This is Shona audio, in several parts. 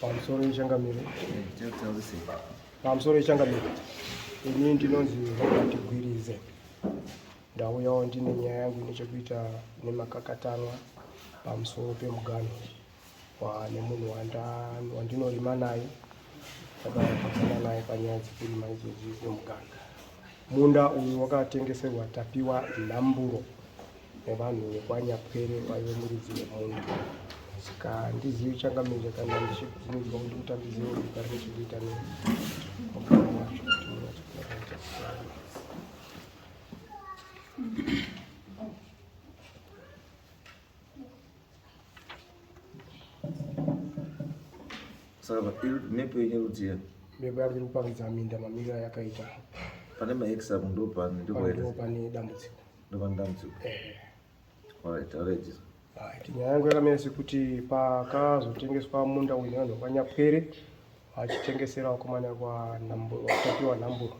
pamusoro yechangamire pamusoro yechangamire ini ndinonzi robert gwirize ndauyawo ndine nyaya yangu ine chekuita nemakakatanwa pamusoro pemuganho kwane munhu wandinorima naye takapakana naye panyaya dzekurima idzodzi nemuganga munda uyu wakatengeserwa tapiwa nhamburo nevanhu vekwanyapwere vaive muridzi wemunda saka ndizivi changamire kana ndichiudzwa kuti kutambiziva kugara nechikuita ne saka iri mepo yenyerudziya mepo yari kuparidza minda mamiriro ayakaita pane maexam ndopane ndopane dambudziko ndopane dambudziko alright alright nyaya yangu yakamira sekuti pakazotengeswa munda uyu nevanhu vanyapwere vachitengesera vakomana vatapiwa nhamburo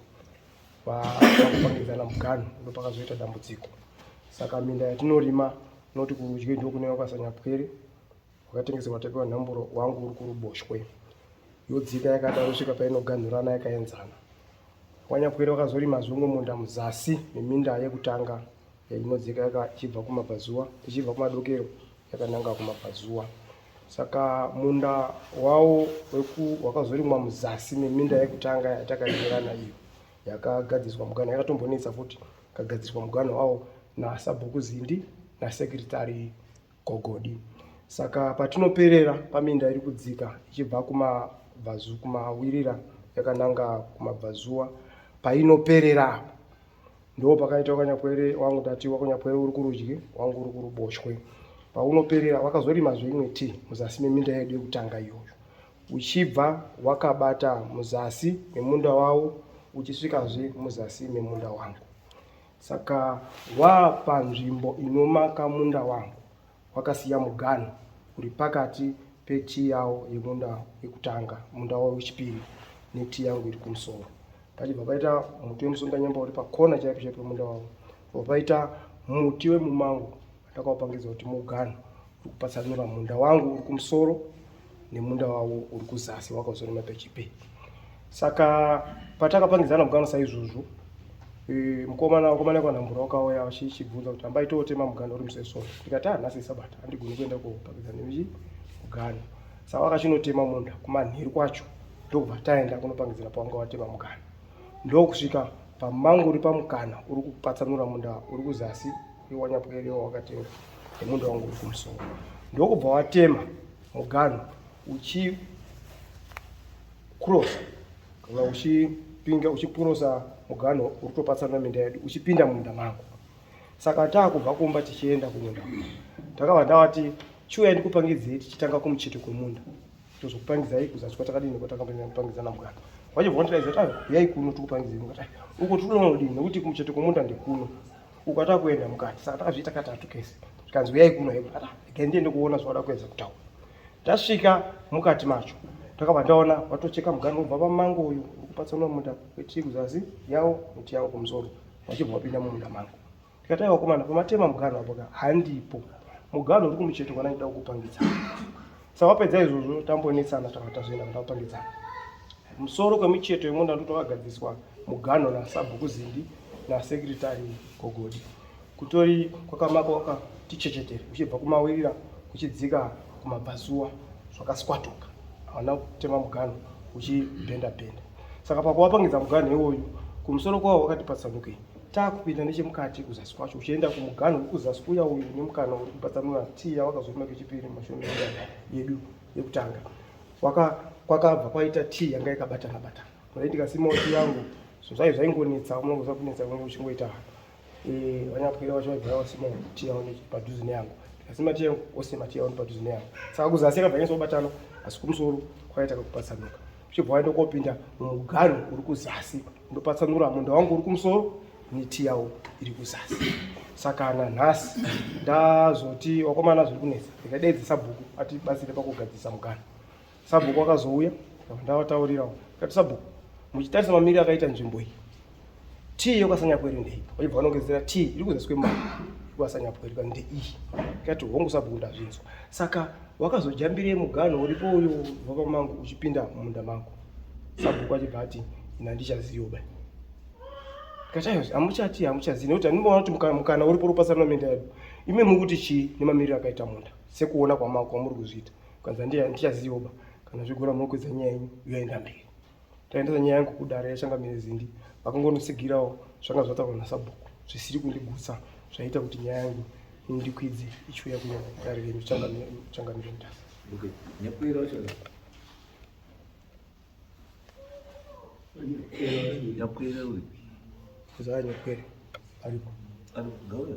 vakupangidzana muganhu ndopakazoita dambudziko saka minda yatinorima noti kurudyi ndokune vakasanyapwere wakatengeserwa tapiwa nhamburo wangu uri kuruboshwe yodzika yakadaro svika painoganhurana yakaenzana wanyapwere vakazorima zvongo munda muzasi meminda yekutanga yainodzika yakachibva kumabvazuva ichibva kumadokero yakananga kumabvazuva saka munda wawo wakazorimwa muzasi meminda yekutanga yatakaenderana iyo yakagadziriswa muganho yakatombonetsa futi kagadziriswa muganho wawo nasabhuku zindi nasekretary Gogodi. Saka patinoperera paminda iri kudzika ichibva kumabvazu kumawirira yakananga kumabvazuwa painoperera apo ndo pakaita wakanyapwere wangu tati wakanyapwere uri kurudyi wangu uri kuruboshwe paunoperera wakazorima zveimwe ti muzasi meminda yedu yekutanga iyoyo uchibva wakabata muzasi memunda wawo uchisvikazve muzasi memunda wangu Saka wapanzvimbo inomaka munda wangu wakasiya muganhu uri pakati petii yawo yemunda yekutanga munda wawo wechipiri netii yangu iri kumusoro pachibva paita muti wemusunganyamba uri pakona chaipo chaipo munda wavo bva paita muti wemumango Ndakaupangidzwa kuti muganhu uri kupatsanura munda wangu uri kumusoro nemunda wavo uri kuzasi wakazorema pechipe. Saka patakapangidzana muganhu saizvozvo e, mukomana wakomana kwanhambura wakauya vachichibvunza kuti hambai tootema muganhu uri musesoro ndikati ah nhasi isabata handigoni kuenda kopangidzana nechi muganhu saka wakachinotema munda kumanheru kwacho ndokubva taenda kunopangidzana pawanga watema muganhu ndokusvika pamangu uri pamukana uri kupatsanura munda uri kuzasi iwanyapwere wakatenga nemunda wangu uri kumusoro ndokubva watema muganhu uchi cross kana uchipinga uchipurosa muganhu uri topatsana minda yedu uchipinda mumunda mangu saka taakubva kumba tichienda kumunda ndakabva ndavati chiuya ndikupangidzei tichitanga kumucheto kwemunda tozokupangidzai kuzasvika takadini kwatakambopangidzana muganhu wachibva wandidaiza kuti huyai kuno tikupangidzei mukati uko tinoodini nekuti kumucheto kwemunda ndekuno uko atakuenda mukati saka takazviita katatu kese zvikanzi uyai kuno heko ata igai ndiende kuona zvawada kuedza kutaura tasvika mukati macho takabva ndaona watocheka mugano ubva pamango uyu ukupatsanwa munda wechii kuzasi yawo miti yawo kumusoro vachibva wapinda mumunda mangu ndikataiwa komana pamatema mugano apoka handipo mugano uri kumucheto kwana ndida kukupangidza Sawapedza izvozvo tambonetsana tanga tazvienda kutapangidzana musoro kwemicheto yemunda ndotowagadziswa muganho nasabhuku zindi nasekretari gogodi kutori kwakamaka wakati chechetere uchibva kumawirira kuchidzika kumabhazuwa zvakaswatuka hauna kutema muganho uchibhenda bhenda saka pakuwapangidza muganho iwoyu kumusoro kwawo wakati patsanukei taakupinda nechemukati kuzasi kwacho uchienda kumuganhu uri kuzasi kuya uyu une mukana uri kupatsanura tii yawakazoona kechipiri mumashoni yedu yekutanga kwakabva kwaita tii yanga yakabatana batana kudai ndikasimawo tii yangu zvinhu zvayo zvaingonetsa unongoza kunetsa kunenge uchingoita eh, vanyapwira vacho vaigara vasimawo tii yavo padhuze neyangu ndikasima tii yangu osima tii yavo nepadhuze neyangu saka kuzasi akabva nyasa kubatana asi kumusoro kwakaita kakupatsanuka uchibva waenda kopinda mumuganhu uri kuzasi ndopatsanura munda wangu uri kumusoro miti yawo iri kuzasi saka nanhasi ndazoti wakomana zviri kunetsa ndikadeedza sabhuku ati batsire pakugadzirisa mugana sabhuku wakazouya ndavataurirawo kati sabhuku muchitarisa mamiri akaita nzvimbo iyi tii yokasanyapwere ndei waibva vanongedzera tii iri kuzasi kwemari yokasanyapwere kani ndeiyi kati hongu sabhuku ndazvinzwa saka wakazojambirei muganho uripo uyo baba mangu uchipinda mumunda mangu sabhuku achibva ati ina ndichaziva ba katayozi hamuchati hamuchazivi nekuti andimboona kuti mukana uripo uripasana menda yedu imi muri kuti chii nemamiriro akaita munda sekuona kwamako kwamuri kuzviita kanza ndichaziva ba kana zvigora muri kuedza nyaya yenyu yoenda mberi taendesa nyaya yangu kudare yachangamire zindi vakangonotsigirawo zvanga zvataurwa nasabhuku zvisiri kundigutsa zvaita kuti nyaya yangu indikwidze ichiuya kuno dare renyu changamire mutasa nyakwere uri zaa nyakwere aripo aripo ngauya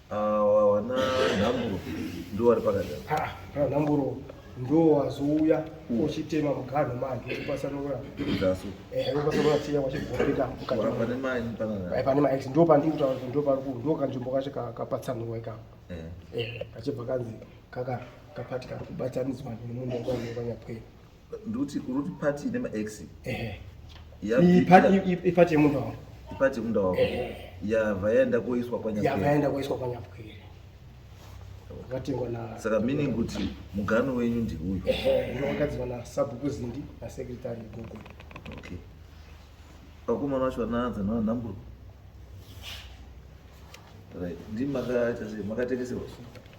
wana nhamburo ndiwo wari pakati kana nhamburo ndo wazouya uchitema muganhu manje uchipasanura uchipasanura tiya wachigopinda mukatipane max ndo pandiri kutaura kuti ndo pari ndo kanzvimbo kacho kapatsanurwa ikako kachibva kanzi kaka kapati kari kubatanidzwa nemunhu wekwanyakwei Nduti uruti party ine maex. Eh. Ya party yemunhu wako. Party yemunhu wako. Eh. Ya vaenda koiswa kwa nyapu. Ya vaenda koiswa kwa nyapu. Vatengwa na Saka meaning kuti mugano wenyu ndi uyu. Eh. Uno wakadzwa na sabhuku zindi na secretary Google. Okay. Vakomana vacho vanaanza na number. Right. Ndi makaita sei? Makatengesewa.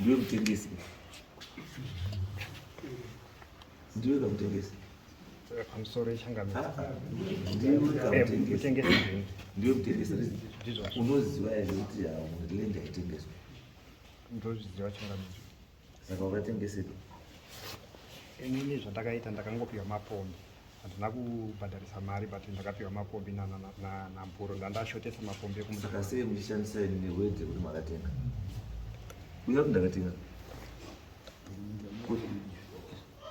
ndiwe mutengesi ndiwe kamutengesi ndiwe mutengesi unoziva here kuti lenda itengeswa ndozviziva chingamizi saka wakatengesepi inini zvandakaita ndakangopiwa mapondo handina kubhadharisa mari but ndakapiwa mapombi namburo ndandashotesa mapombi ekumusakasei muchishandisa ini newedhe kuti makatenga uya kuti ndakatenga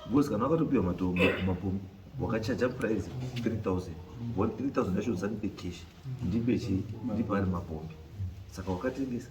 because kana wakatopiwa matombo mapombi wakachaja price 3000 3000 yacho usanipe cash ndipe chii ndipe ari mapombi saka wakatengesa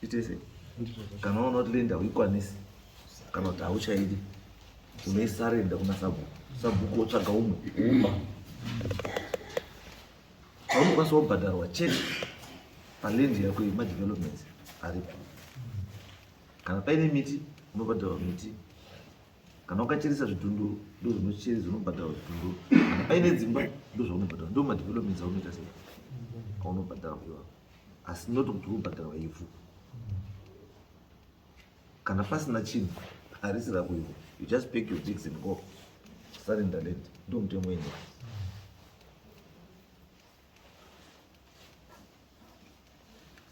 Titese, kana waona kuti lenda uikwanisi kana kuti hauchaidi unoisarenda kuna sabhuku sabhuku wotsvaga umwe uma paunokwanisa wobhadharwa chete palendi yako yemadevelopments aripo kana paine miti unobhadharwa miti kana ukacheresa zvidhundu ndozvinocheresa unobhadharwa zvidhundu kana paine dzimba ndozvaunobhadharwa ndomadevelopments aunoita sei aunobhadharwa iwao asi not kuti kubhadharwa ivhu kana pasina chinhu harisi rako ivhu you just pack your jigs and go surrender land ndo mutemo wenyu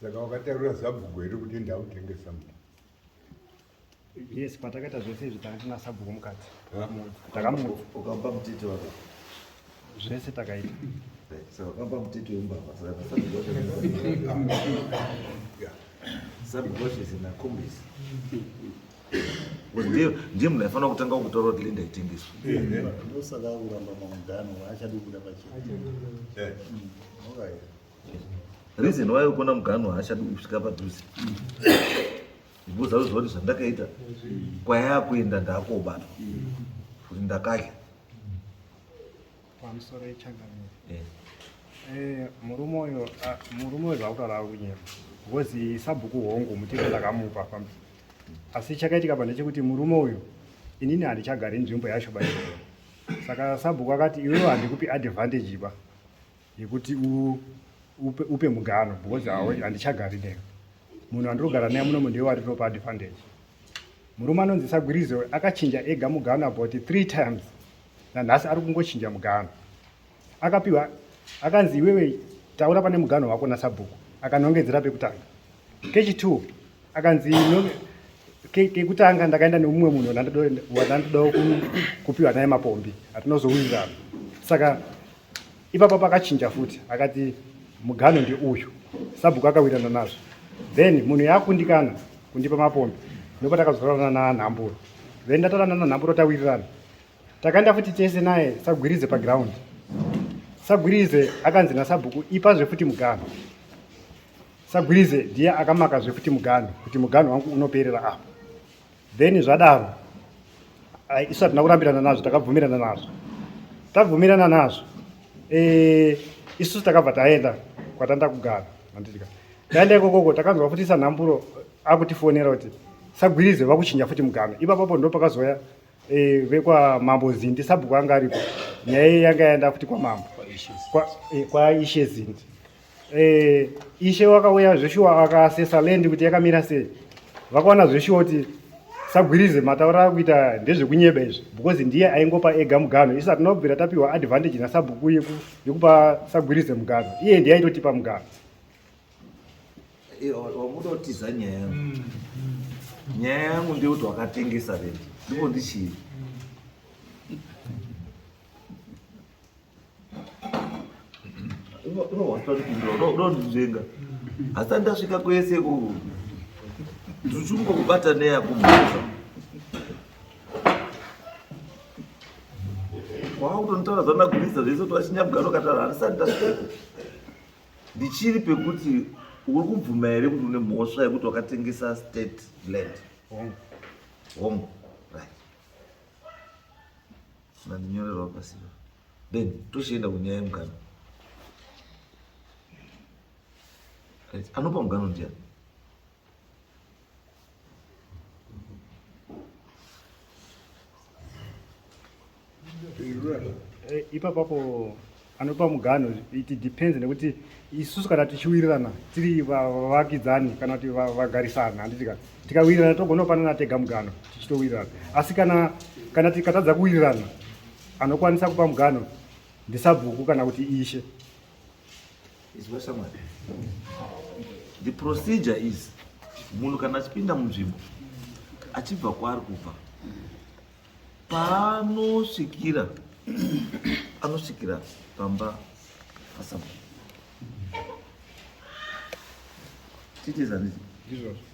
saka wakatarira zabhuku here kuti ndautengesa mnda yes patakaita zvese izvi tanga tina sabhuku mukati takamuukapa mutete waka zvese takaita vakapa mutete wembavha saka sabhukoshese nakombisi ndiye munhu aifanira kutanga kutaura kuti linda itengeswa ndosaka akuramba mamudano achadi kuda pachinoreason why ukona mugano haachadi kusvika padhuze Ndozaudzwa kuti zvandakaita kwayakuenda ndakobatwa kuti ndakadya pamusoro yechangamire eh. eh, murume uyo ah, murume uyo zvakutaura kunyema ngozi sabhuku hongu mutiro ndakamupa pamba asi chakaitika pa ndechekuti murume uyo inini handichagari nzvimbo yacho baio saka sabhuku akati iwewo handikupi advantage ba yekuti u, upe, upe mugano because mm. handichagari nemi munhu andirogara naye munomu ndiye wari ropa advantage murume anonzi sagwirizo akachinja ega mugano about three times nanhasi ari kungochinja mugano akapiwa akanzi iwewe taura pane mugano wako nasabhuku akanongedzera pekutanga kechi two akanzi kekutanga ndakaenda nemumwe munhu wandandidawo kupiwa naye mapombi atinozowirirana saka ipapa pakachinja futi akati mugano ndeuyu sabhuku akawirirana nazvo then munhu yaakundikana kundipa mapombi ndipo takazorana nanhamburo then ndatorana nanhamburo tawirirana takaenda futi tese naye sagwirize paground sagwirize akanzi nasabhuku ipazve futi mugano Sagwirize ndiye akamaka zvekuti muganhu kuti muganhu wangu unoperera apa. Then zvadaro isu hatina kurambirana nazvo takabvumirana nazvo. Tabvumirana nazvo eh isu takabva taenda kwatanda kugara handitika. Taenda ikokoko takanzwa futi sanhamburo akutifonera kuti sagwirize vakuchinja futi muganhu. Ipapo ndo pakazouya eh vekwa mambo Zindi sabhuku anga ariko. Nyaya yanga yaenda futi kwa mambo. Kwa ishe Zindi. eh, ishe wakauya zveshuwa akasesa lendi kuti yakamira sei vakaona zveshuwa kuti sagwirize mataura akuita ndezvekunyeba izvi because ndiye aingopa ega mugano isa tinobvira tapiwa advantage nasabhuku yekupa sagwirize mugano iye ndiye aitotipa mugano eh, wamudotiza nyaya yangu mm, mm. nyaya yangu ndeyekuti wakatengesa lendi ndipo ndichii unondinzvenga hasati ndasvika kwese ku ndichungo kubata neya kumhasa waakutonitaura zvanagurisa zvese kuti vachinyamugaro katara handisati ndasvika ndichiri pekuti uri kubvuma here kuti une mhosva yekuti wakatengesa state land hongu right Mandinyorerwa pasiva. Then tochienda kunyaya yemugano. Anopa mugano ndiani? Eh, ipapapo anopa muganho it depends nekuti isusu kana tichiwirirana tiri vavakidzani kana kuti vagarisana handitika tikawirirana togona kupanana tega muganho tichitowirirana asi kana kana tikatadza kuwirirana anokwanisa kupa muganho ndisabhuku kana kuti ishe the procedure is munhu kana achipinda munzvimbo achibva kwaari kubva paanosvikira anosvikira pamba pasamu titezanizi izvozvo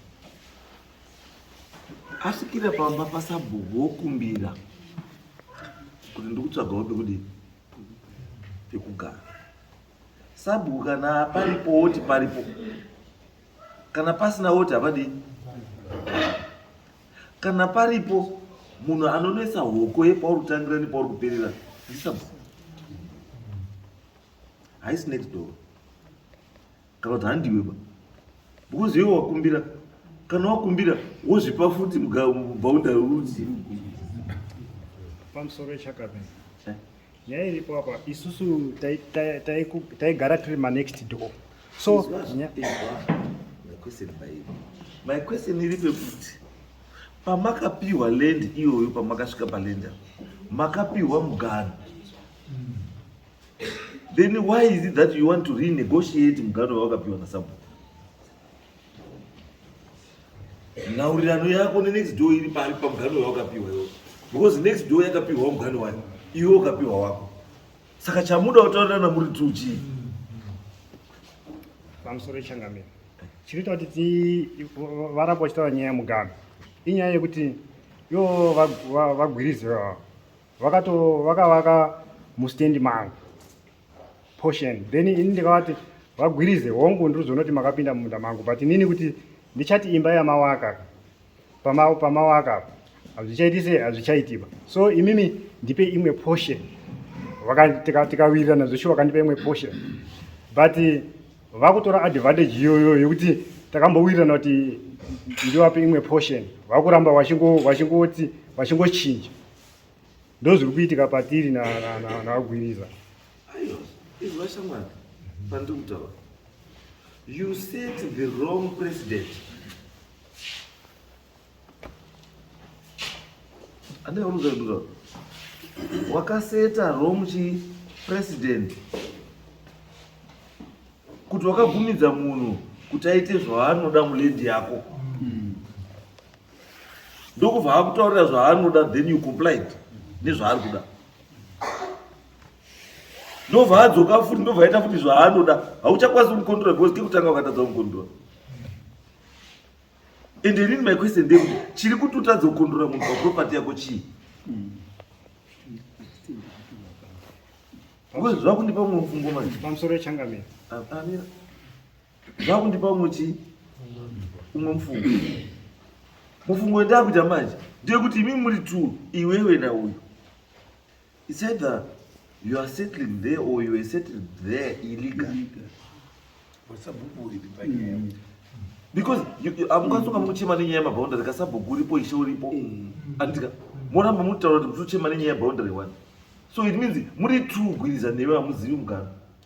asvikira pamba pasabhuku wokumbira kuti ndikutsvagawo pekudi pekugara sabhuku kana paripo woti paripo kana pasina woti havadii kana paripo munhu anonwesa hoko yepauri kutangira nepauri kuperera ndisab haisi next door kana kuti handiweba because iwe wakumbira kana wakumbira wozvipa futi mubhaunda uzi pamusoro echakabini nyaya iripo apa isusu taigara tiri manext door so my question iri pekuti pamakapiwa land iyoyo pamakasvika palenda makapiwa mugano then why is it that you want to renegotiate mugano wawakapiwa nasabhuku nhaurirano yako nenext door iri pari pamuganhu wawakapiwa iwo because next door yakapiwa muganhu wayo iwe ukapiwa wako saka chamuda kutaurirana muri two chii pamusoro ichangamira chinoita kuti varamba vachitaura nyaya yemuganhu inyaya yekuti yo vagwirizi vakavaka mustendi mangu portion then ini ndikavati vagwirize hongu ndiri kuzoona kuti makapinda mumunda mangu but inini kuti ndichati imba yamawaka pama, pamawaka apa hazvichaiti se hazvichaitiba so imimi ndipe imwe portion tikawirirana zveshuwa vakandipa imwe portion but vakutora advantage iyoyo yekuti takambowirirana kuti ndiwape imwe portion vakuramba vachingoti vachingochinja ndozviri kuitika patiri nagwiriza aiwa izvi vashamwari pandiri kutaura you set the wrong president andiaunuzaiura wakaseta wrong chi president kuti wakabvumidza munhu kuti aite zvaanoda mulendi yako mm. ndokubva akutaurira zvaanoda then you complied nezvaari kuda ndobva adzoka futi ndobva aita futi zvaanoda hauchakwanisi kumukontrola because kekutanga ukatadza kumukontrola and inini my question ndekuti chiri kuti utadza kukontrola munhu paproperty yako chii zvakundipa mumwe mufungo manje pamusoro yechangamira amira zvakundipa umwe chii umwe mufungo mufungo wendakuita manje ndeyekuti imi muri t iwewe nauyu its either you are settling there or you are settled there illegal because amukwanisa kunga muchema nenyaya yemaboundary kasabhuku uripo ishe uripo andika moramba mutaura kuti mutochema nenyaya yeboundary one so it means muri true gwiriza newe hamuzivi mugaro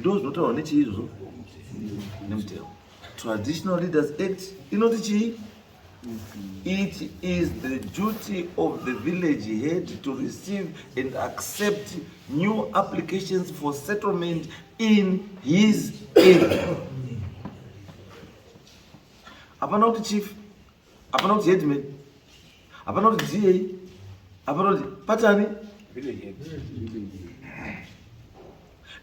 ndozvinotaurwa nechii izvozvo nemutemo traditional leaders act inoti chii it is the duty of the village head to receive and accept new applications for settlement in his area hapana kuti chief Hapana kuti headman. Hapana kuti DA. Hapana kuti patani.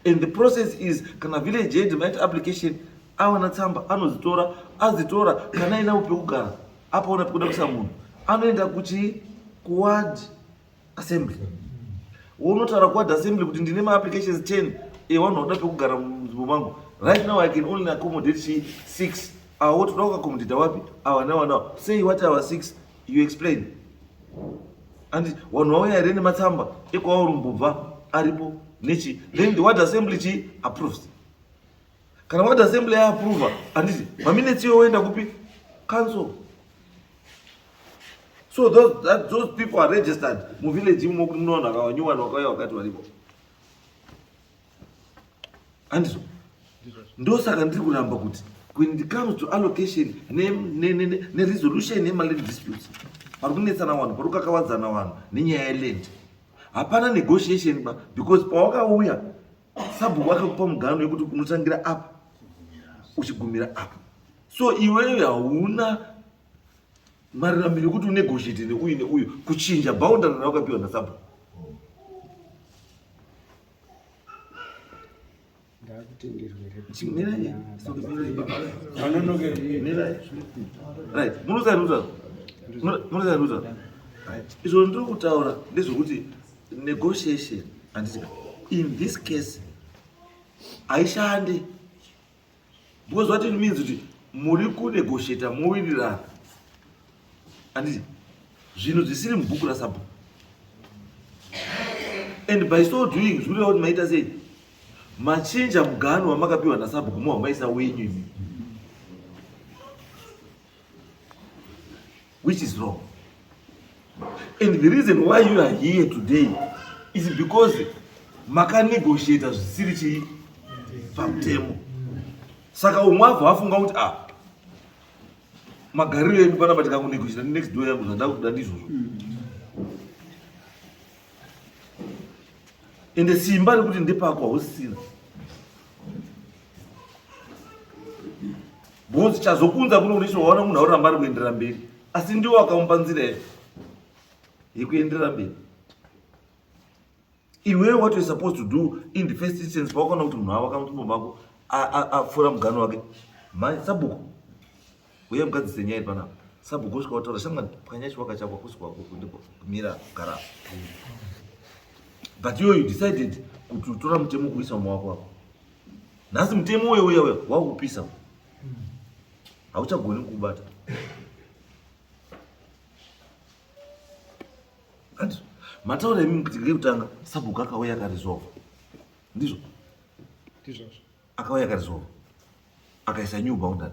And the process is kana village head might application awana tsamba anozitora azitora kana ina upe kugara apaona pekuda kusa munhu anoenda kuchi kuward assembly wounotaura kuward assembly kuti ndine maapplications 10 ewanhu vanoda pekugara munzvimbo mangu right now i can only accommodate she six awo ah, toda kuaccommodate wapi awa nawa nawa sei wati awa six you explain andi wanhu wauya here nematsamba ekwauri mbubva aripo nechi then the ward assembly chi approves kana ward assembly yaapprova handiti maminetsi iwe woenda kupi council so those, that, those people are registered muvillage imo kuti munoona vanhu vakanyuwana vakauya vakati varipo handizo ndosaka ndiri kuramba kuti when it comes to allocation neresolution ne, ne, ne yemaland disputes pari kunetsana vanhu pari kukakavadzana vanhu nenyaya yeland hapana negotiation ba because pawakauya sabhuku vakakupa mugano yekuti unotangira apa uchigumira apa so iweyo hauna marirambiro yekuti unegosheti neuyu neuyu kuchinja boundary rawakapiwa nasabhu izvo ndiri kutaura ndezvekuti negotiation handiti in this case haishandi because what it means kuti muri kunegosheta mowirirana anditi zvinhu zvisiri mubhuku rasabhuku and by so doing zvikureva kuti maita sei machinja mugano wamakapiwa nasabhuku mohamaisa wenyu imi which is wrong and the reason why you are here today is because makanegotiata zvisiri chii pamutemo saka umwe abva afunga kuti ah magariro edu panapa tikakunegotiata next door yangu zvandakuda ndizvozvo ende simba rekuti ndepako hausisina bhozi chazokunza kuno unisho waona munhu auramba ari kuendera mberi asi ndiwo wakamupa nzira ye yekuendera mberi iwewe what you're supposed to do in the first instance pawakaona kuti munhu wavo akamutumbo mako apfuura mugano wake mhai sabhuku uye mukadzise nyaya iri panapa sabhuku usvika wataura shamwa pwanya chiwaka chako akusi kwako kundiko kumira gara but iwe you decided kuti utora mutemo kuisa mumawako wako nhasi mutemo uyo uyo uyo wakupisa hauchagoni kubata hanti mataura imi kuti ngekutanga sabhuku akauya akarizova ndizvo ndizvozvo akauya akarizova akaisa new boundary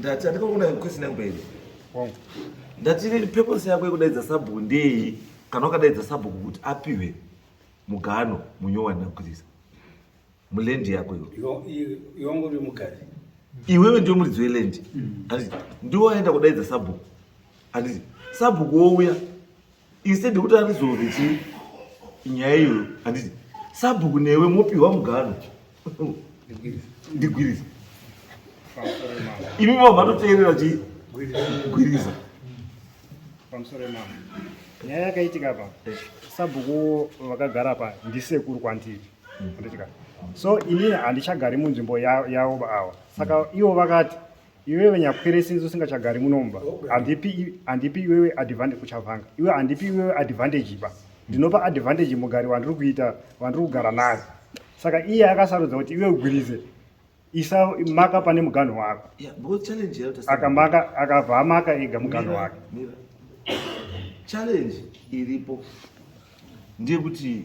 ndati andikakuona kusina kubairi ndati purpose yako yekudaidza sabhuku ndei kana wakadaidza sabhuku kuti apiwe mugano munyowani nakukrisa mulendi yako iwangu uri mukadzi iwewe ndiwe muridzi welendi handiti mm. ndiwe waenda kudaidza sabhuku handiti sabhuku wouya instead yekuti arizove chi nyaya iyoyo handiti sabhuku newe mopiwa mugano ndigwiriza imi vavo vatoteerera chi gwiriza pamusoro emama nyaya yakaitika pa eh. sabhuku vakagara pa ndisekuru kwandiri so ini handichagari munzvimbo yavo ava saka mm. ivo vakati iwewe nyakwere since usingachagari munomba handipi iwewe advantage kuchavanga iwe handipi iwewe advantage iba ndinopa advantage mugari wandiri kuita wandiri kugara naye saka iye akasarudza kuti iwe ugwirize isa maka pane muganho wako akamaka akabva amaka ega muganho wake challenge iripo ndeyekuti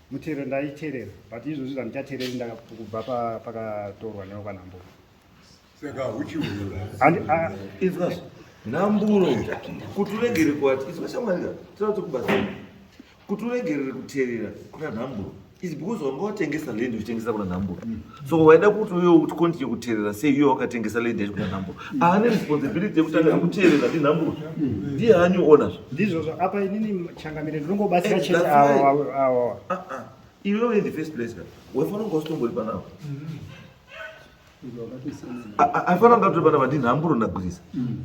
Mutero ndaiterera but izvozvi zvandichatereri ndakubva pakatorwa newo kana mbuka. Saka huchiurura. And uh, it's not nhamburo kuti uregerere kuati izwa shamwarira tinoda tokubatsira kuti uregerere kuteerera kuna nhamburo is because wanga watengesa land uchitengesa kuna nhamburo so waida kuti uyo kuti continue kuteerera sei uyo wakatengesa lady yacho kuna nhamburo ava ne responsibility yekutanga kuteerera ndi nhamburo ndiye anyu ona zvo ndizvozvo apa inini changamire ndinongobatsira eh, chete awa ah, ah. iwewe in the first place ka waifanira kunge usitombori panavo aifanira kunge atori panava ndinhamburo ndagwirisa mm.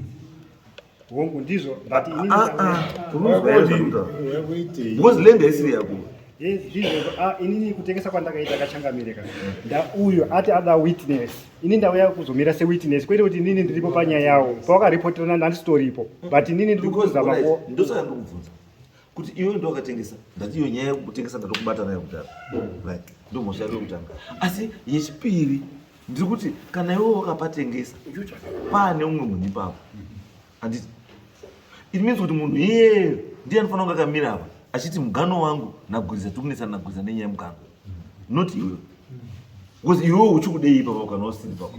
hongu ndizvo but ini Ah, ndikanga- ah, ah, unonzwa kuti nda- Wewe kuitei? because land haisiri yako yes, ndizvo ah, inini kutengesa kwandakaita kachangamireka ndauyo ati ada witness ini ndauya kuzomira sewitness kwete kuti inini ndiripo panyaya yawo pawakaripoterana ndandisitoripo but inini ndiri Because, kuzama alright, ku ndosaka ndikubvunza kuti iwe ndo wakatengesa ndati iyo nyaya yekutengesa ndatokubata nayo kudhara right ndo mhosva yako yekutanga asi yechipiri ndiri kuti kana iwe wakapatengesa paane umwe munhu ipapo anditi it means kuti munhu iyeyo ndiye anofanira kunge akamira apa achiti mugano wangu nagwiza tiri kunetsana nagwiza nenyaya yemugano not iwewe because iwewe uchi kudei ipapo kana usiri papo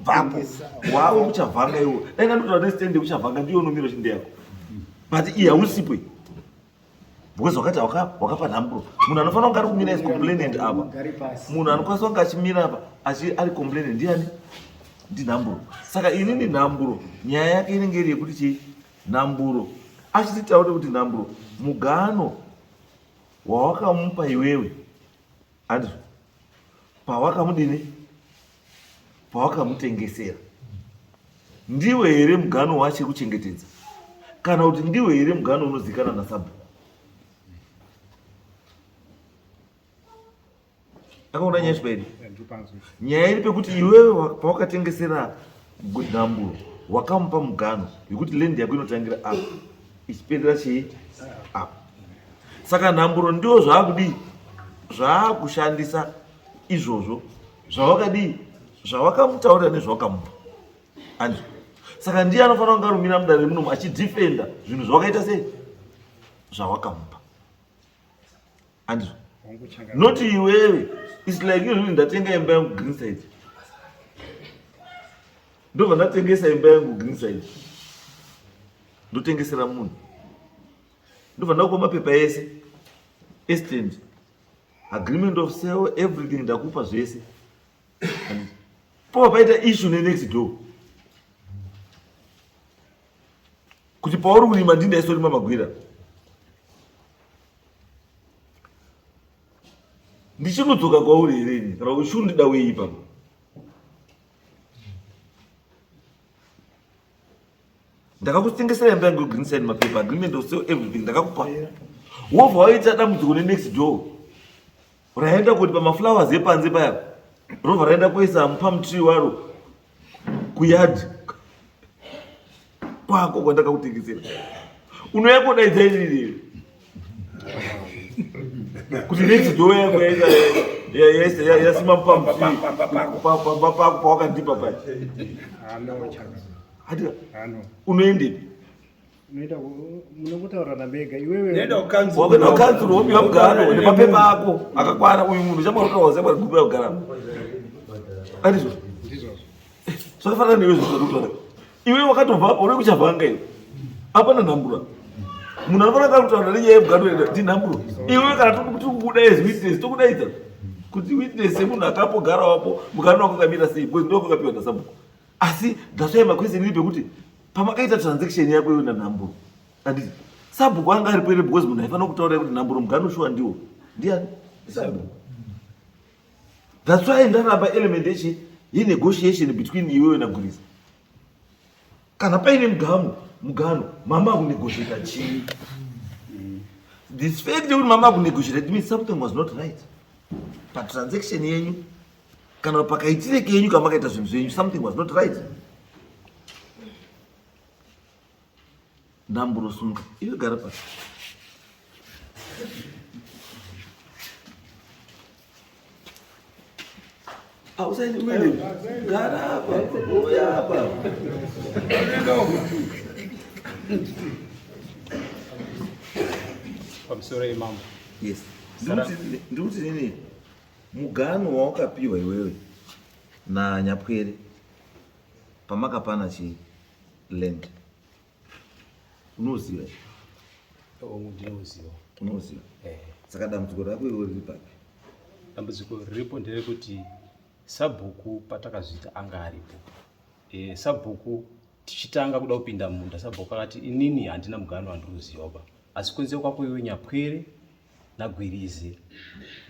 bvapo wavo kuchavhanga iwo dai ndatotaura nestand yekuchavhanga ndiyo unomira uchinde yako but iyi hausipo iyi because wakati wakapa nhamburo munhu anofanira kunge ari kumira is complainant apa munhu anokwanisa kunge achimira apa achi ari complainant ndiani ndinhamburo saka ini ni nhamburo nyaya yake inenge iri yekuti chii nhamburo achititaure kuti nhamburo mugano wawakamupa iwewe andizvo pawakamudini pawakamutengesera ndiwe here mugano waachiri kuchengetedza kana kuti ndiwe here mugano unozikana nasabhuku akaona nyaya chibairi nyaya iri pekuti iwewe pawakatengesera nhamburo wakamupa mugano yekuti lendi yako inotangira apa ichiperera chii apa saka nhamburo ndiwo zvaakudii zvaakushandisa izvozvo zvawakadii zvawakamutaurira nezvawakamupa anzwa saka ndiye anofanira kunge arumira mudare remunomu achidefenda zvinhu zvawakaita sei zvawakamupa anzwa not iwewe its like iyo zvini ndatenga imba yangu green side ndobva ndatengesa imba yangu green side ndotengesera munhu ndobva ndakupa mapepa ese esitende agreement of sale everything ndakupa zvese po paita issue nenext door kuti pauri kurima ndini ndaisorima magwira ndichinodzoka kwauri here ini kana kuti chundida weipa ndakakutengesera imba yangu green sign mapaper agreement or sell everything ndakakupa wobva waita dambudziko nenext door raenda kuti pamaflowers epanze paya robva raenda kuisa pamutrii waro kuyard kwako kwandakakutengesera unouya kodaidza iririrei kuti nedzido yako yasimba pamba pako pawakandipa pacho unoendepi wakana kanzuru wopiwa mugaro nemapepa ako akakwana uyu munhu chamwarotawa zembwa rigubira kugaramo andizvo zvakafanana newe zvizvarutaura iwe wakatobva uri kuchavanga iwe apana nhambura munhu anofanira kakutaura nenyaya yebwado tinhamburo iwe kana tikubuda as witness tokudaidza kuti witness yemunhu akapogara wapo mukana wako kamira sei bcoz ndoko kapiwa nasabuko asi dasvai maquestion iri pekuti pamakaita transaction yako iwe nanhamburo anditi sabuko anga ari pere bcoz munhu aifanira kutaura kuti nhamburo mugano shuwa ndiwo ndiani sabuko That's why ndaramba element yechi ye negotiation between iwewe na Guriza. Kana paine mugano, mugano, mama ku negotiate chii? This fact yekuti mama ku negotiate means something was not right. Pa transaction yenyu kana pakaitire kenyu kamakaita zvinhu zvenyu something was not right. Ndamburo sunga. Iwe gara pasi. Ausaini mwene. Gara hapa. Uya hapa. Pamsore imam. Yes. Ndikuti nini? Mugano wawakapiwa iwewe na Nyapwere pamakapana chii? land unoziva ndinoziva unoziva eh. saka dambudziko rako iwe riri papi dambudziko riripo nderekuti sabhuku patakazviita anga aripo eh, sabhuku tichitanga kuda kupinda munda sabhuku akati inini handina mugano wandiri kuziva ba asi kunze kwako iwe nyapwere naGwirizi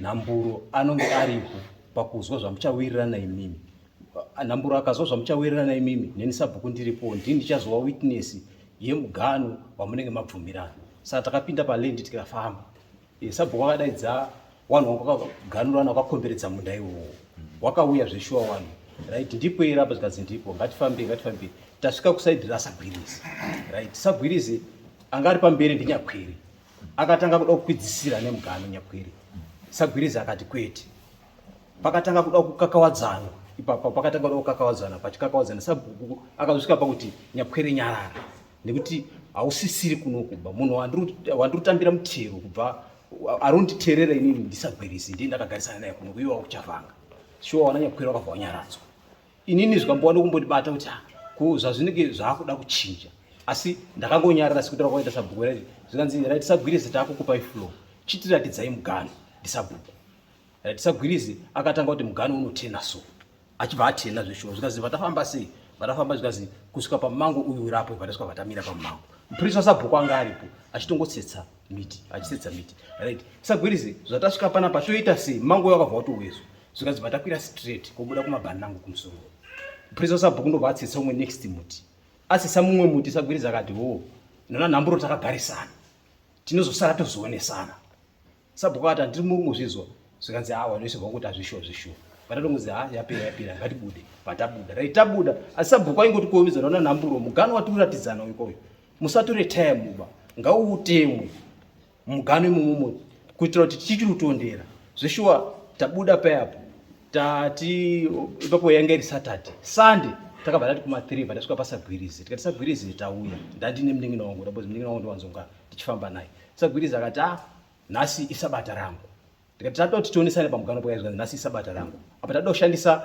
Nhamburo anonge aripo pakuzwa zvamuchawirirana imimi. Nhamburo akazwa zvamuchawirirana imimi, neni sabhuku ndiripo, ndini ndichazova witness yemugano wamunenge mabvumirana. Saka takapinda palendi tikafamba, eh, sabhuku akadaidza wanhu wangu wakaganurana wakakomberedza munda iwowo, wakauya zveshuwa wanhu right ndipo ira apa zvikanzi ndipo ngatifambe ngatifambe tasvika kusaidi rasagwirizi right sagwirizi anga ari pamberi ndinyakwiri akatanga kuda kukwidzisira nemugano nyakwiri sagwiriza akati kwete pakatanga kuda kukakawadzana ipapo pakatanga kuda kukakawadzana pachikakawadzana sabhuku akazosvika pakuti nyakwiri nyarara nekuti hausisiri kuno kubva munhu wandirutambira mutero kubva arunditerera inini ndisagwirisi ndiye ndakagarisana naye kuno kuiwa kuchavanga shuwa wana nyakwiri wakabva wanyaradzwa inini zvikambowana kumbondibata kuti ah, ko zvazvinenge zvakuda kuchinja asi ndakangonyarara sekutaura kwaita sabhuku raiti zvikanzi raiti sagwirizi takukupai flow chitiratidzai mugano ndisabhuku raiti sagwirizi akatanga kuti mugano unotena so achibva atena zveshuwa zvikanzi vatafamba sei vatafamba zvikanzi kusvika pamango uyu urapo vatasvika vatamira pamango mupurisi wasabhuku anga aripo achitongotsetsa miti achitsetsa miti right sagwirizi zvatasvika panapa toita sei mango yakabva watowezwa zvikanzi batakwira straight kobuda kumabhani nangu kumusoro purisa usabhuku ndobva atsitsa umwe next muti asisa mumwe muti sagwiriza akati wo oh, nona nhamburo takagarisana tinozosara tozoonesana sabhuku akati handiri murungu zvizwa zvikanzi awa ah, noisirwa kuti hazvishuwa zvishuwa vatatongozi ha ah, yapera yapera ngatibude vatabuda rai tabuda asi sabhuku aingoti kuomiza nona nhamburo mugano watikuratidzana uyu koyo musatore time uba ngauutemwe mugano imomomo kuitira kuti tichiri kutondera zveshuwa tabuda payapo tati ipapo yanga iri saturday sunday takabva tati kuma three bva tasvika pasagwirizi tikati sagwirizi tauya ndandine munin'ina wangu ndabozi munin'ina wangu ndiwanzonga tichifamba naye sagwirizi akati a ah, nhasi isabata rangu tikati tatoda kuti tionesane pamuganwa pakaizwa nhasi sabata rangu apa tatoda kushandisa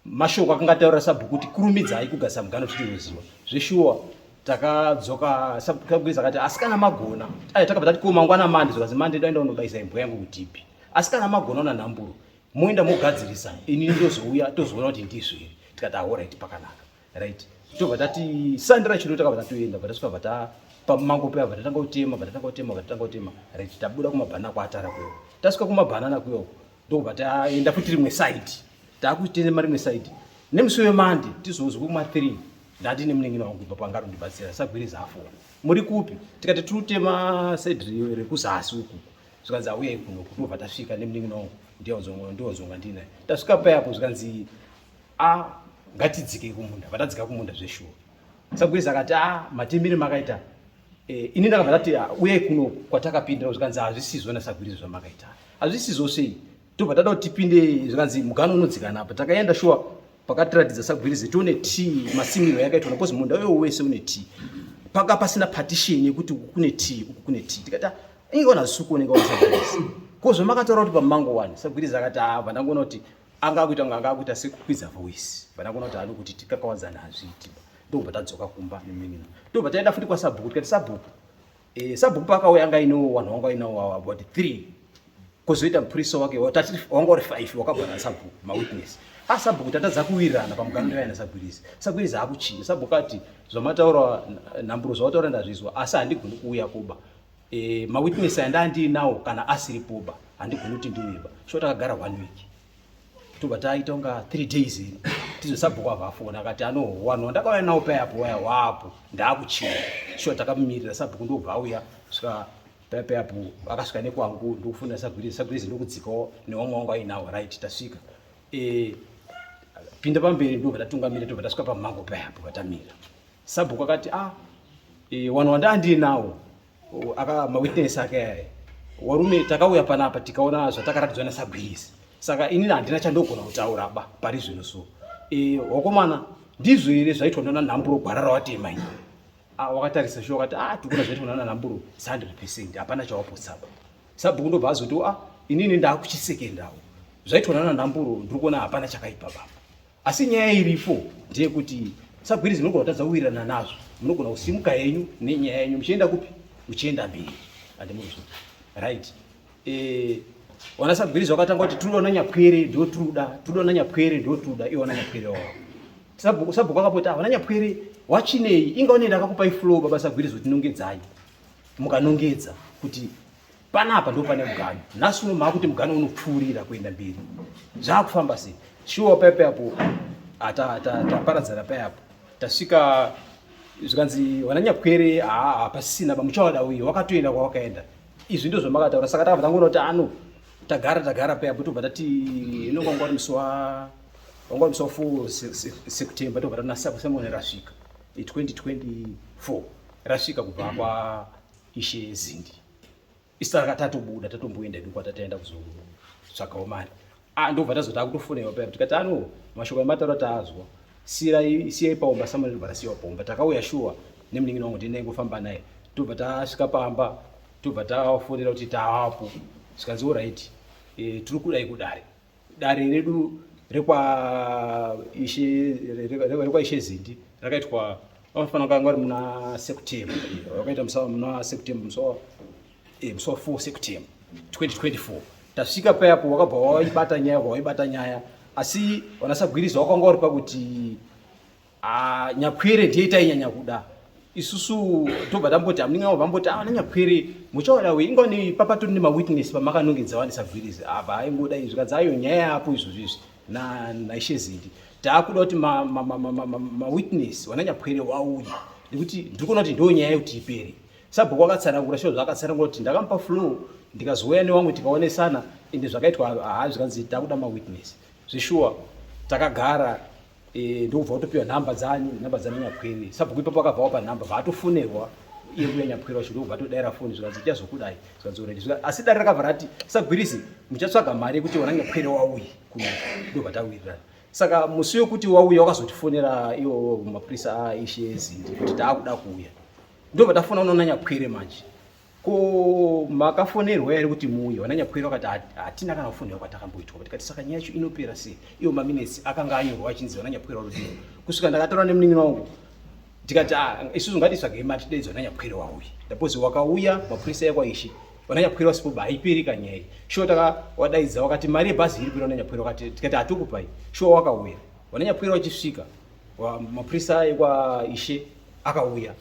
mashoko akanga ataura sabhuku kuti kurumidzai kugadzisa muganwa kuti tinoziva zveshuwa takadzoka sabhuku akati asi kana magona ai takabva tati ko mangwana mande zvokazi mande doenda unobaisa imbwa yangu kutipi asi kana magona una nhamburo moenda mogadzirisa ini ndozouya tozoona kuti ndizviri tikati ahoraiti pakanaka right tobva tati sandi rachino takabva tatoenda bva tasvika bva tapa mango paya bva tatanga kutema bva tatanga kutema bva tatanga kutema right tabuda kumabhanana kuatara kuyo tasvika kumabhanana kuyo ndokubva taenda futi rimwe side taakutema rimwe side nemusi wemande tizouzi kuma three ndati nemunengina wangu kubva pangaro ndibatsira sagwiri zafona muri kupi tikati tiri kutema side rekuzasi ukuku zvikanzi auya ikuno kutobva tasvika nemunengina wangu ndionzonga ndionzonga ndinaye tasvika payapo zvikanzi a ngatidzikei kumunda vatadzika kumunda zveshuwa sagweza akati a ah, matimire makaita eh, ini ndakabva ndati ah, uyai kuno kwatakapindira zvikanzi hazvisizvo nasagwirizo zvamakaita hazvisizvo sei tobva tada kuti tipinde zvikanzi mugano unodzikana apa takaenda shuwa pakatiratidza sagwirizi tione t masimiro yakaitwa nakozi munda uyo wese une t paka pasina partition yekuti uku kune t uku kune t tikati ah, inge ona zvisukuoneka wasagwirizi ko zvamakataura kuti pamango wani sagwirizi akati ava ndangoona kuti anga akuita kunge anga akuita sekukwidza voice vana kuona kuti anokuti tikakawadzana hazviiti ndobva tadzoka kumba neminina ndobva taenda futi kwasabhuku tikati sabhuku eh, sabhuku paakauya anga ainawo wanhu wanga ainawo about three kozoita mupurisa wake wanga uri five wakabva nasabhuku mawitness a sabhuku tatadza kuwirirana pamuganiro yaina sagwirizi sagwirizi akuchinja sabhuku ati zvamataura nhamburo zvawataura ndazvizwa asi handigoni kuuya kuba Eh, ma witness aya ndandiinawo kana asiri poba handigoni kuti ndiveba sho takagara one week tobva taita kunga three days ini tizosabhuku ava afona akati anowanwa ndakauya nawo paya apo waya wapo ndaakuchina sho takamumirira sabhuku ndobva auya svika paya paya apo akasvika nekwangu ndokufunda sagwirizi sagwirizi ndokudzikawo newamwe wangu ainawo right tasvika eh, pinda pamberi ndobva tatungamira tobva tasvika pamhango paya apo vatamira Sabhuku akati ah e, wanhu wandaandiye nawo aka mawitness ake aya warume takauya panapa tikaona zvatakaratidzwa nasagwirisi saka inini handina chandogona kutaura ba pari zvino so e, wakomana ndizvo here zvaitwa ndana nhamburo gwara rawatema ini ah, wakatarisa sho wakati ah tikuna zvaitwa ndana nhamburo sandre percent hapana chawapotsaba sabhuku ndobva azoti ah inini ndaakuchisekendawo zvaitwa ndana nhamburo ndiri kuona hapana chakaipa baba asi nyaya iripo ndeyekuti sagwirizi munogona kutadza kuwirirana nazvo munogona kusimuka henyu nenyaya yenyu muchienda kupi uchienda mberi andimuzvo right eh, wana sagwirizi wakatanga kuti tiri ona nyapwere ndiwo tiruda tiri ona nyapwere ndiwo tiruda iwana nyapwere wao sabhuku akapoti avana ah, nyapwere wachinei inga unoenda akakupai flow baba sagwirizi kuti nongedzai mukanongedza kuti panapa ndo pane muganhu nhasi uno maakuti muganhu unopfuurira kuenda mberi zvaakufamba sei shuwa paye paye apo taparadzana ah, paye apo tasvika zvikanzi vananyakwere hapasisina bamuchawada uye wakatoenda kwawakaenda izvi ndo zvamakataura saka takabva tangoona kuti ano tagara tagara paye apo tobva tati inonga wanga wari musi wa wanga wari musi wa four sekutemba tobva tati nasamuone rasvika 2024 rasvika kubva kwa ishe zindi isaka tatobuda tatomboenda edu kwatataenda kuzotsvagawo mari ah, ndobva tazo takutofonewa paya tikati ano mashoko emataura taazwa sirai siyai paomba samari ndobva tasiyiwa paomba takauya shuwa nemunin'ina wangu tienda ingofamba naye tobva tasvika pamba tobva tafonera kuti taapo zvikanzi orit e, eh, tiri kudai kudare dare redu rekwaishe zindi rakaitwa vanofanira kanga vari muna september vakaita musa muna september musa eh, musa 4 september 2024 tasvika payapo wakabva waibata nyaya waibata nyaya asi vanasagwiriza wakanga uri pakuti Ah, nyakwere ndiye tainyanya kuda isusu tobva tamboti hamunenge mavo vamboti avana ah, nyakwere muchaoda we ingoni papatori nemawitness pamakanongedza vanisagwirizi apa aingoda izvi kadzayo nyaya yapo izvozvo izvi naishe zindi taakuda kuti mawitness wana nyakwere wauye nekuti ndiri kuona kuti ndo nyaya yekuti ipere sabhuku wakatsanangura sho zvaakatsanangura kuti ndakamupa flow ndikazouya newamwe tikaonesana ende zvakaitwa haa zvikanzi takuda mawitness zveshuwa takagara Eh, ndokubva watopiwa nhamba dzanyu nhamba dzana nyaphwere sabhuku ipapo akabva wapa nhamba vaatofonerwa iye kuya nyaphwere wacho ndokubva atodaira foni zvikanzi icha zvokudai zvikanzi oredi asi dare rakabva rati sagwirisi muchatsvaga mari yekuti wana nyaphwere wauye kuno ndobva tawirirana saka musi wekuti wauya wakazotifonera iwo mapurisa aishe zindi kuti taakuda kuuya ndobva tafona unoona nyaphwere manje Ko makafonerwa here kuti muuye? Vananyakwira vakati hatina kana kufonerwa kwatakamboitwa. Tikati saka nyaya yacho inopera sei? Iwo maminesi akanga anyorwa achinzi vananyakwira vanodiwa. Kusvika ndakataura nemunin'ina wangu tikati ah, isusu ngatitsvagei mati daidzwa nanyakwira wauya. Ndapozi wakauya mapurisa ekwaishi vananyakwira vasipo ba haiperi kanyaya iyi. Shuwa takawadaidza wakati mari yebhazi iri kuenda nanyakwira wakati tikati hatokupai. Shuwa wakauya. Vananyakwira vachisvika mapurisa ekwa ishe akauya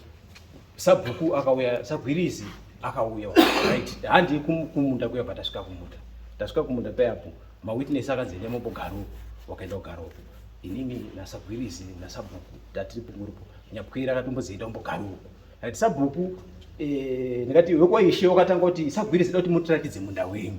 sabhuku akauya sagwirizi akauya right handi kumunda kuya patasvika kumunda tasvika kumunda payapo mawitness akanzi enda mobogaro wakaenda kugaro inini nasagwirizi nasabhuku tatiri punguripo nyapwira akatombozienda mbogarowo right sabhuku eh, ndikati wekwaishe wakatanga kuti sagwirizi da kuti mutiratidze munda wenyu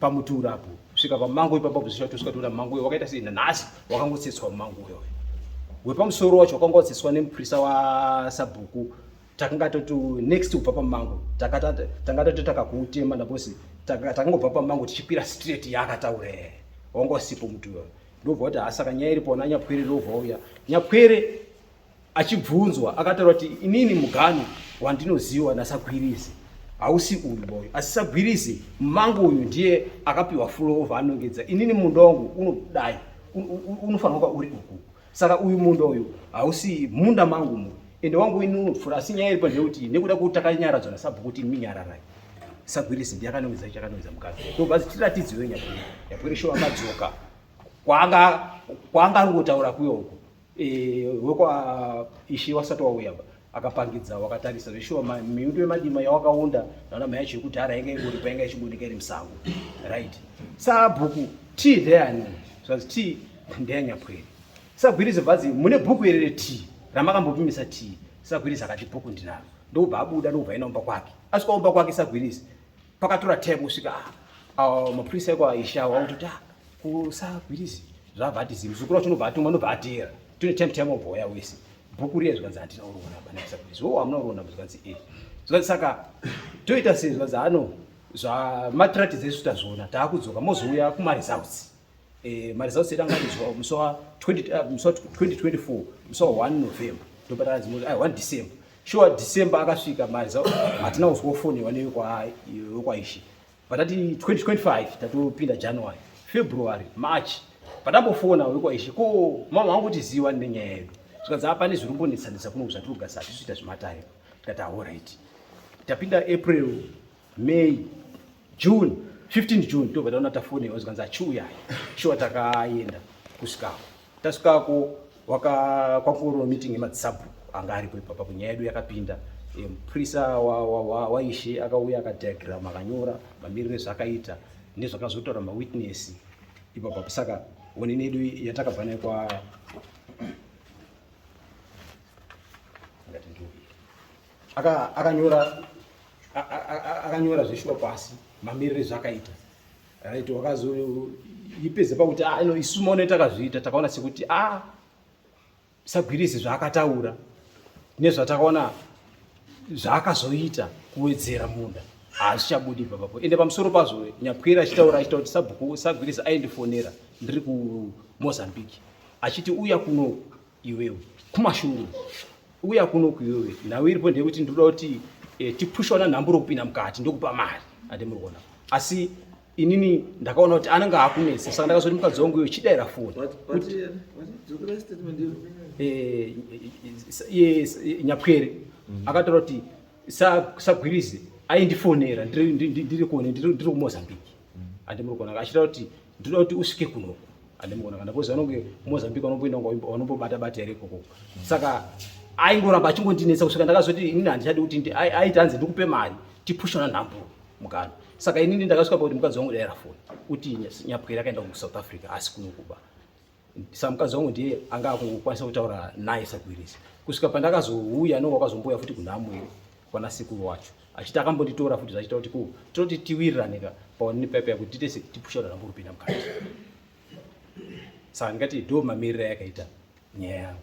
pamuti urapo svika pamango ipapa buzisha tosvika toona mango uyo wakaita sei nanhasi wakangotsetswa mumango uyo wepamusoro wacho wakanga watsetswa nemuprisa wasabhuku takanga toti next kubva pamango tanga tati takakuutema nabosi takangobva pamango tichikwira straight yaakataura ee wanga usipo muti uyo ndobva kuti hasaka nyaya iripo na nyapwere ndobva uya nyapwere Achibvunzwa akataura kuti inini mugano wandinoziwa naSagwirizi hausi uyu boyo asi Sagwirizi mangu uyu ndiye akapiwa fulo over anongedza inini munda wangu unodai unofanira kuva uri uku saka uyu munda uyu hausi munda mangu mu ende wangu ini unopfura asi nyaya iripo ndeyekuti nekuda kwekuti takanyaradzwa nasabhuku kuti imi nyararai sagwirisi ndiye akanongedza icho akanongedza mukadzi tobva tiratidziwe nyapwere nyapwere shuwa madzoka kwaanga kwaanga angotaura kuyo uko Eh, wekwa ishi wasati wauya ba akapangidza wakatarisa zveshuwa miundo yemadima yawakaunda naona mai yacho yekudhara yanga ingoripo yanga ichibudika iri musango right sabhuku t ndeyani zvanzi t ndeyanyapwere sagwirizi bvazi mune bhuku here reti ramakambopimisa t sagwirizi akati bhuku ndinaro ndokubva abuda ndokubva enda umba kwake asvika umba kwake sagwirizi pakatora time kusvika ah, mapurisa eko aishawa akutoti ah, kusagwirizi zvavhatizi muzukuru wacho unobva atumwa unobva ateera tune time time obhoya wese bhuku riye zvikanzi handina kuriona bana kusagwirizi wo hamuna kuriona zvikanzi e zvikanzi saka toita sei zvikanzi ano zvamatiratidza isu tazviona taakudzoka mozouya kumaresults eh, maresults edu angaizwa musi wa 2024 uh, musi wa 1 november ndopatana zimoti ai 1 december sure december akasvika maresults hatina kuzwa foni wane yokwaishi patati 2025 tatopinda january february march patambofona wekwaishi ko mama wangu kuti ziva nenyaya yedu zvikanzi apane zviri kumbonetsanetsa kuno zvatiri kugasa hatisi kuita zvematayo tikati aho right tapinda april May, June, 15 June tobva taona tafone zvikanzi achiuya shuwa takaenda kusvikako tasvikako kwakungorova meeting yemadzisabhuku anga aripo ipapa kunyaya yedu yakapinda muprisa waishe akauya akadiagram akanyora mamiriro ezvakaita nezvakazotaura mawitness ipapa saka onini yedu yatakabva nayo kwa akanyora akanyora zveshuwa pasi mamirire zvakaita right wakazoipedza pakuti ah, no isu maone takazviita takaona sekuti a ah, sagwirisi zvaakataura nezvatakaona zvaakazoita kuwedzera munda hazvichabudi papapo ende pamusoro pazvo nyapwera achitaura achita kuti sabhuku sagwirisi aindifonera ndiri kumozambique achiti uya kuno iwewe kumashure uya kuno kuiwewe nhau iripo ndeyekuti ndinoda kuti eh, tipushwa nanhamburo kupinda mukati ndokupa mari ade muri kuona asi inini ndakaona kuti anenge akunetsa saka ndakazoti mukadzi wangu iyo chidaira foni eh, eh, nyapwere mm. akataura kuti sagwirize aindifonera ndiri kuone ndiri kumozambique mm. ande muri kuona achitaura kuti ndinoda kuti usvike kuno andimuona kana kozi vanonge mozambique vanomboenda vanombobata bata here ikoko saka aingoramba achingondinetsa kusvika ndakazoti inini handichadi kuti aiti hanzi ndikupe mari tipushana nhambo mukana saka inini ndakasvika pakuti mukadzi wangu daira foni kuti nyapwere akaenda kusouth africa asi kunokuba sa mukadzi wangu ndiye anga akukwanisa kutaura naye sagwirisi kusvika pandakazouya no wakazombouya futi kunhamo iyo kwana sekuru wacho achiti akambonditora futi zvachita kuti ku tinoti tiwiriraneka paonini pepe yakuti titese tipusha rambo rupinda mukati saka ndingati ndo mamirira yakaita nyaya yangu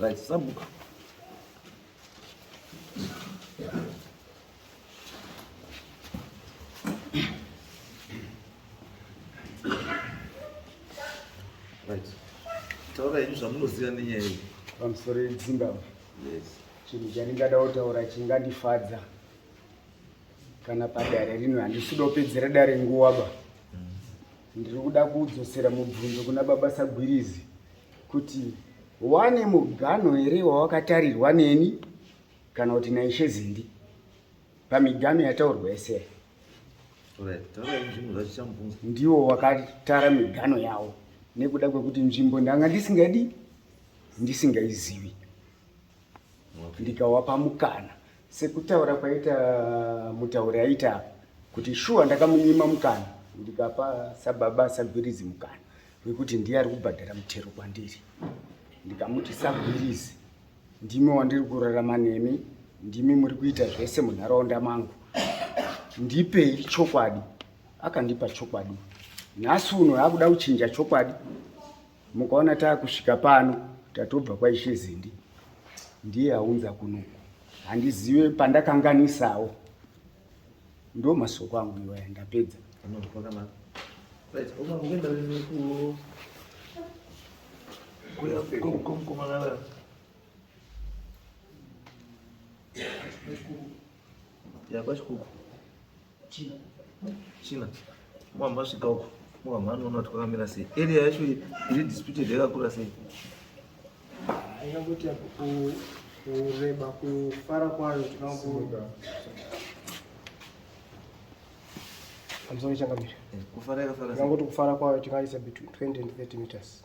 Right, sabuka. Right. Taura izvi zvamunoziva nenyaya iyi. Pamusoro yedzimba. Yes. Chinhu chandingada kutaura chingandifadza kana padare rino handisida kupedzera dare nguva ba. Ndiri kuda kudzosera mubvunzo kuna baba Sagwirizi kuti wane muganho here wawakatarirwa neni kana kuti naishe Zindi pamiganho yataurwa yese ndiwo wakatara miganho yawo nekuda kwekuti nzvimbo ndanga ndisingadi ndisingaizivi ndikawapa mukana sekutaura kwaita mutauri aita apa kuti shuwa ndakamunyima mukana ndikapa sababa sagwirizi mukana wekuti ndiye ari kubhadhara mutero kwandiri ndikamuti sagwirizi ndimi wandiri kurarama nemi ndimi muri kuita zvese munharaunda mangu ndipei chokwadi akandipa chokwadi nhasi uno akuda kuchinja chokwadi Mukaona takusvika pano tatobva kwaishe Zindi, ndiye aunza kuno. Handizive pandakanganisawo, ndo masoko angu iwaya. Ndapedza. Yeah, China. China. Mwamba asvika uko. Mwamba anoona kuti kwakamira sei. Area yacho iri disputed yakakura sei. Haina kuti kureba kufara kwayo tinokuda. Hamsoni changamira. Eh, kufara yakafara. Ngangoti kufara kwayo tingaisa between 20 and 30 meters.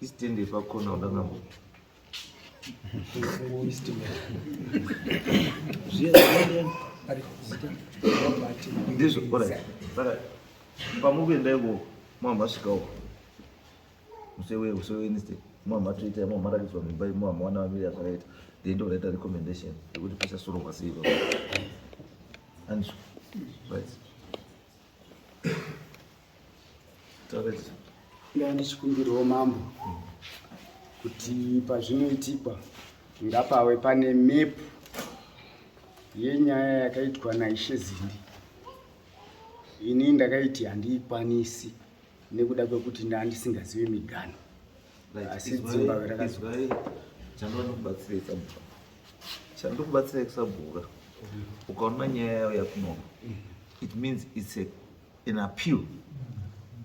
Isitende pakona udanga mbo. Isitende. Zviya zviya ari kuzita. Ndizvo bora. Saka pamuvi endai wo mama svika wo. Musewe usewe iniste. Mama toita mama ratidzwa mimba mama wana vamiri zvakaita. Then ndo reta recommendation yekuti pesa soro kwasiiko. Anzwa. Right. ndanga ndichikumbirwo mambo kuti pazvinoitikwa ngapawe pane mepu yenyaya yakaitwa naishe zindi ini ndakaiti handiikwanisi nekuda kwekuti ndandisingazive migano chandokubatsirai kusabhura ukaona nyaya yayo yakunoma it means it's a, an appeal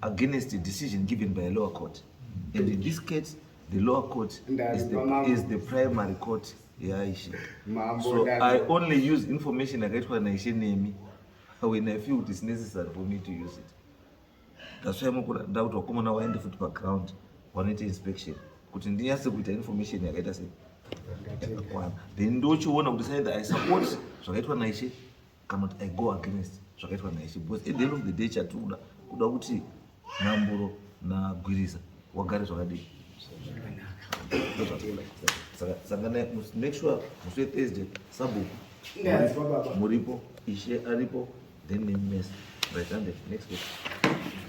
against a decision given by a lower court and in this case the lower court is the, is the primary court yaishe so i only use information yakaitwa naishe nemi when i feel it is necessary for me to use it that's why mukura nda kuti wakomana waende futi pa ground wanoita inspection kuti ndinyase kuita information yakaita sei yakakwana then ndochiona kuti said i support zvakaitwa naishe kana kuti i go against zvakaitwa naishe because at the end of the day chatikuda kuda kuti nhamburo nagwiriza wagare zvakadii saka make sure musi wethursday sabhuku muripo ishe aripo then name mesa right hand next week